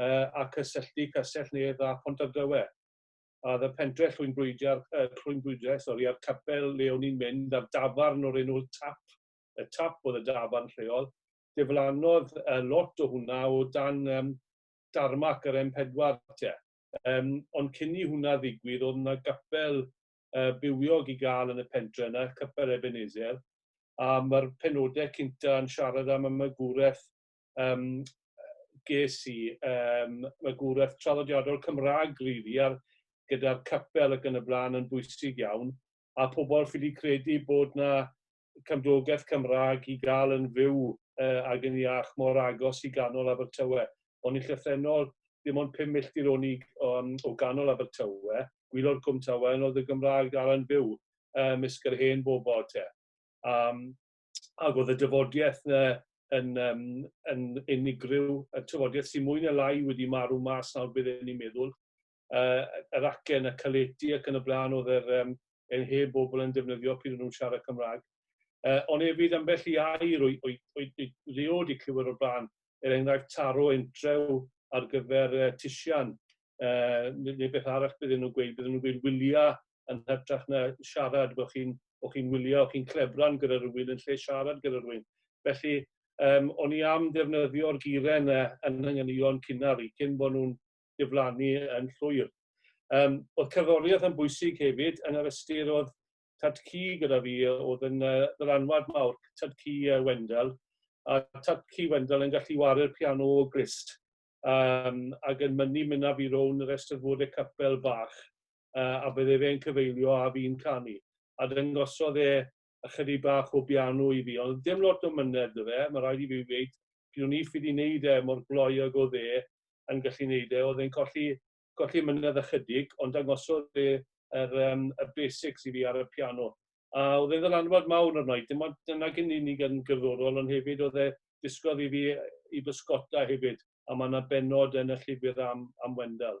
uh, a cysylltu Cysell Nedd a Pontarddrywe. A oedd y pentre llwynbrwydiau, uh, llwynbrwydiau sori, a'r capel le o'n i'n mynd, a'r dafarn o'r enw Tap, y Tap oedd y dafarn lleol, diflannodd uh, lot o hwnna o dan um, darmac yr M4 te. Um, ond cyn i hwnna ddigwydd, oedd yna gapel uh, bywiog i gael yn y pentre yna, Capel Ebenezer, a mae'r penodau cynta yn siarad am y magwraeth yym ges i yym magwraeth traddodiadol Cymraeg rili a'r gyda'r capel ac yn y blaen yn bwysig iawn a pobl ffili credu bod 'na cymdogaeth Cymraeg i gael yn fyw uh, ag yn iach mor agos i ganol Abertawe. O'n i llythrennol dim ond pum milltir o'n i um, o ganol Abertawe, gwylod Cwm Tawe, yn oedd y Gymraeg dal yn byw um, ysg yr hen bobl te. Um, ag oedd y dyfodiaeth yna yn, um, yn unigryw, y tyfodiaeth sy'n mwy neu lai wedi marw mas nawr bydd e'n ei meddwl, uh, yr acen, y caleti ac yn y blaen oedd yr, um, yn heb bobl yn defnyddio pryd nhw'n siarad Cymraeg. Uh, ond hefyd ambell i air o'i, o'i, o'i, o'i leod i clywyr o'r blaen, er enghraifft taro entrew ar gyfer uh, tisian, uh, neu beth arall bydden nhw'n gweud, bydden nhw'n gweud wylia yn hytrach na siarad, bod chi'n o chi'n wylio, o chi'n clebran gyda rhywun yn lle siarad gyda rhywun. Felly, um, o'n i am ddefnyddio'r giren uh, yn ynganion cynnar i cyn bod nhw'n diflannu yn llwyr. Um, oedd cerddoriaeth yn bwysig hefyd yn yr ystyr oedd tad cu gyda fi oedd yn uh, ddylanwad mawr, tad cu uh, Wendell, a tad cu Wendell yn gallu waru'r piano o glist um, ac yn mynnu mynd â fi rown yr estrfod y capel fach uh, a bydde fe'n cyfeilio a fi'n canu. A dyngosodd e ychydig bach o biano i fi, ond dim lot o mynedd dy fe, mae rhaid i fi wneud, pryd o'n i ffyd i wneud e mor gloi ag oedd e yn gallu wneud e, oedd e'n colli golli mynedd ychydig, ond dangosodd e yr um, y basics i fi ar y piano. A oedd e'n ddylanwad mawr arno i, dim ond dyna gyn i ni yn gyddorol, ond hefyd oedd e disgodd i fi i bysgota hefyd, a mae yna benod yn y llyfr am, am Wendell.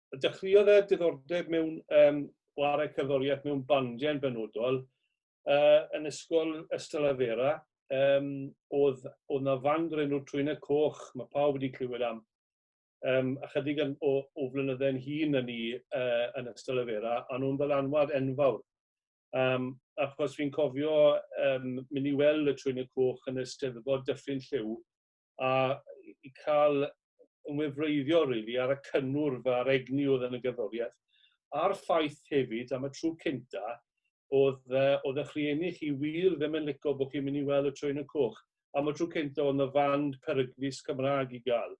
dechreuodd e diddordeb mewn um, chwarae cerddoriaeth mewn bandiau yn benodol uh, yn ysgol Ystalavera. Um, oedd, oedd na fand o'r enw Trwyna Coch, mae pawb wedi clywed am um, ychydig yn, o, o flynyddau'n hun yn ni uh, yn ystod y fera, a nhw'n ddylanwad enfawr. Um, achos fi'n cofio um, mynd i weld y trwy'n y coch yn y steddfod dyffryn lliw, a i cael ymwybreiddio rili ar y cynnwrf a'r egni oedd yn y gerddoriaeth, a'r ffaith hefyd am y tro cynta oedd yy oedd 'ych rhieni chi wir ddim yn lico bod chi'n mynd i weld y Trên y Coch. Am y tro cynta oedd 'na fand peryglus Cymraeg i gael.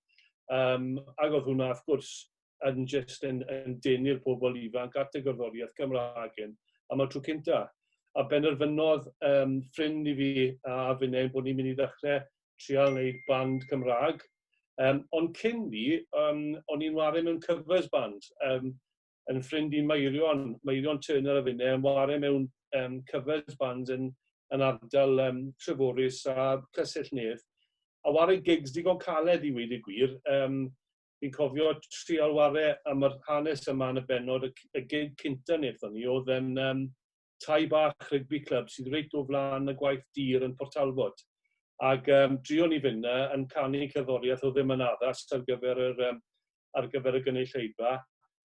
Um, ac oedd hwnna wrth gwrs yn jyst yn, yn denu'r pobl ifanc at y gerddoriaeth Gymraeg hyn am y tro cynta. A benderfynodd um, ffrind i fi a finnau bod ni'n mynd i ddechrau trial wneud band Cymraeg. Um, ond cyn ni, um, o'n i'n wario mewn covers band. Um, yn ffrind i Meirion, Meirion Turner a finnau, yn wario mewn um, covers bands yn, yn ardal um, Treforys a Cysell Nedd a wario gigs digon caled i weid y gwir. Um, Fi'n cofio trial ware am yr hanes yma yn y bennod, y y gig cynta nethon ni o'dd yn yym tai bach rygbi clwb sydd reit o flan y gwaith dur yn Port Talbot. Ag yym drion ni fyn' 'na yn canu cerddoriath o'dd ddim yn addas ar gyfer yr yym ar gyfer y gynulleidfa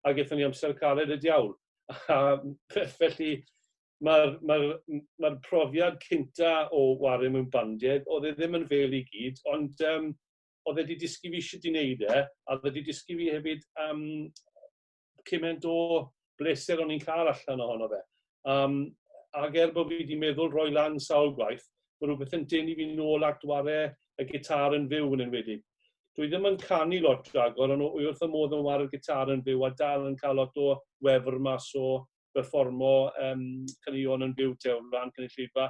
ag ethon ni amser caled y diawl. A felly ma'r ma'r m- ma'r profiad cynta o ware mewn bandied o'dd e ddim yn fêl i gyd ond yym oedd wedi dysgu fi sut i wneud e, a oedd wedi dysgu fi hefyd um, cymaint o bleser o'n i'n cael allan ohono fe. Um, ac er bod fi wedi meddwl roi lan sawl gwaith, mae rhywbeth yn denu fi'n ôl at ware y gitar yn fyw yn enwedig. Dwi ddim yn canu lot ragor, ond wy wrth y modd yn ware'r gitar yn fyw a dal yn cael lot o wefr mas o berfformo um, caneuon yn byw te o flan cynulleidfa.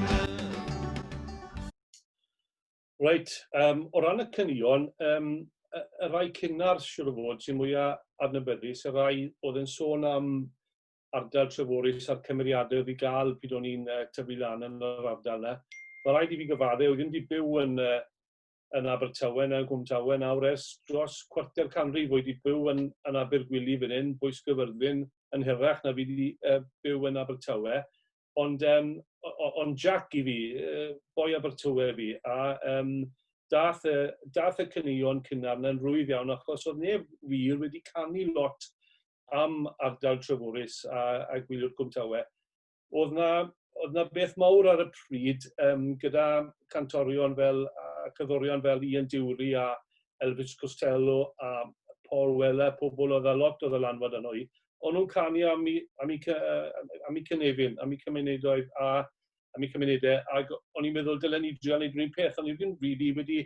Reit, um, o ran y cynnion, um, y, y rai cynnar siwr o fod sy'n mwyaf adnabyddus, y rai oedd yn sôn am ardal Treforys a'r cymeriadau oedd i gael pryd o'n i'n uh, tyfu lan yn yr ardal yna. Mae rhaid i fi gyfadde, oedd ddim wedi byw yn, uh, yn Abertawe na Gwmtawe nawr ers dros cwarter canrif oedd wedi byw yn, yn Abergwili fan hyn, Bwys Gyfyrddin yn hirach na fi wedi uh, byw yn Abertawe. Ond yym o- o- ond Jac i fi, yy boi Abertawe fi, a yym daeth y daeth y caneuon cynnar 'na'n rwydd iawn achos oedd neb wir wedi canu lot am ardal Treforys a a gwyliwr Cwm Tawe. Oedd 'na oedd 'na beth mawr ar y pryd yym gyda cantorion fel a cerddorion fel Ian Dury a Elvis Costello a Paul Weller, pobl oedd â lot o ddylanwad arno i, o'n nhw'n canu am i, am i, am i cynefin, am i cymunedau a am i cymunedau, ac o'n i'n meddwl dylen ni drio wneud rhywun peth, ond ni'n ddim rili wedi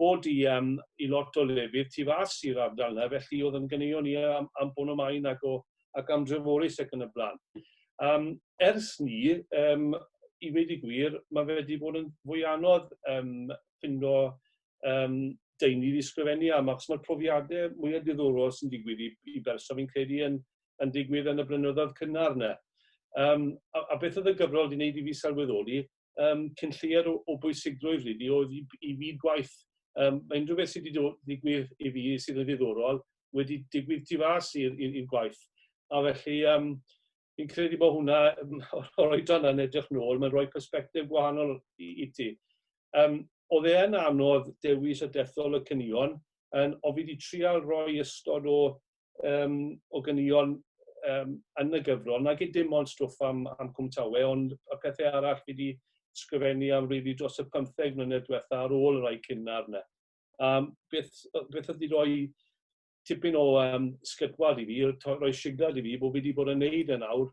bod i, um, i lot o lefydd tu fas i'r ardal yna, felly oedd yn gynneuo ni am, am bod nhw'n maen ac, o, ac am dreforus ac yn y blaen. Um, ers ni, um, i wedi gwir, mae fe wedi bod yn fwy anodd um, ffindo um, deunydd i sgrifennu am, achos mae'r profiadau mwyaf diddorol sy'n digwydd i, i berson fi'n credu yn, yn digwydd yn y brynyddoedd cynnar yna. Um, a, a beth oedd y gyfrol wedi gwneud i fi sylweddoli, um, cyn lleiad o, o bwysigrwydd rydw oedd i, i fyd gwaith. Um, mae unrhyw beth sydd wedi digwydd i fi sydd yn ddiddorol wedi digwydd tu fas i'r gwaith. A felly, um, fi'n credu bod hwnna, o'r oedran yn edrych nôl, mae'n rhoi perspektif gwahanol i, i ti. Um, oedd e yn anodd dewis y dethol y cynion, yn, o fi wedi trial rhoi ystod o, um, o gynion um, yn y gyfrol, nag i dim ond stwff am, am cwmtawe, ond y pethau arall fi wedi sgrifennu am rili dros y 15 mlynedd diwetha ar ôl y rhai cynnar yna. Um, beth, beth oedd wedi rhoi tipyn o um, sgytwad i fi, roi signal i fi bod fi wedi bod yn neud yn e awr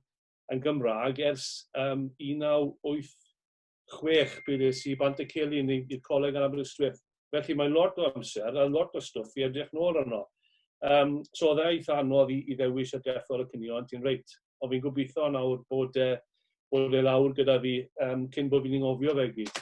yn Gymraeg ers um, 1986 bydd es i bant y celi yn i'r coleg yn Aberystwyth. Felly mae lot o amser a lot o stwff i edrych nôl arno. Um, so oedd e'n eitha anodd i, i ddewis y dethol y cynio, ond ti'n reit. Ond fi'n gobeithio nawr bod, e, bod e lawr gyda fi um, cyn bod fi'n ngofio fe gyd.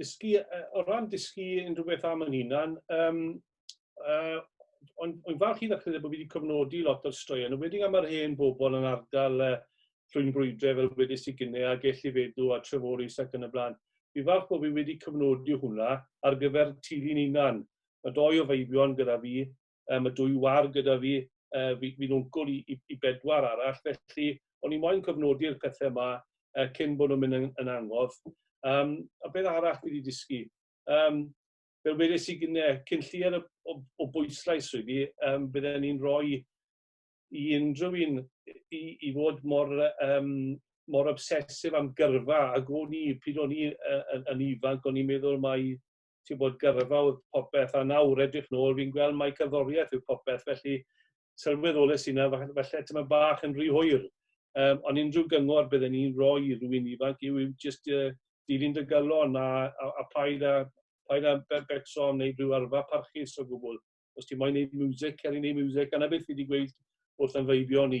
dysgu, uh, o ran dysgu unrhyw beth am yn hunan, um, uh, ond o'n falch i ddechrau bod fi wedi cofnodi lot o'r straeon, yn wedi am yr hen bobl yn ardal uh, llwy'n brwydrau fel wedi sy'n gynnau a gellu fedw a treforus ac yn y blaen. Fi falch bod fi wedi cofnodi hwnna ar gyfer tili'n unan. Mae doi o feibion gyda fi um, y dwy war gyda fi, uh, fi fi'n wncwl i, i, i bedwar arall, felly o'n i moyn cofnodi'r pethau yma uh, cyn bod nhw'n mynd yn, yn angof. Um, a beth arall fi wedi dysgu? Um, fel wedes i gyne, cyn llier o, o bwyslais rwy fi, um, bydden ni'n rhoi i unrhyw un i, i fod mor, um, mor obsesif am gyrfa a go ni, pryd o'n i uh, yn, yn ifanc, o'n i'n meddwl mai ti'n bod gyrfa oedd popeth, a nawr edrych nôl, fi'n gweld mai cerddoriaeth yw popeth, felly sylweddolus yna, felly ti'n bach yn rhy hwyr. Um, ond unrhyw gyngor bydden ni'n rhoi i rwy'n ifanc yw, yw just uh, dilyn dy gylon a, a, a paid a, paid a becso am wneud rhyw arfa parchus o gwbl. Os ti'n moyn wneud music, cer i wneud music, a na beth fi wedi gweud wrth anfeibio ni.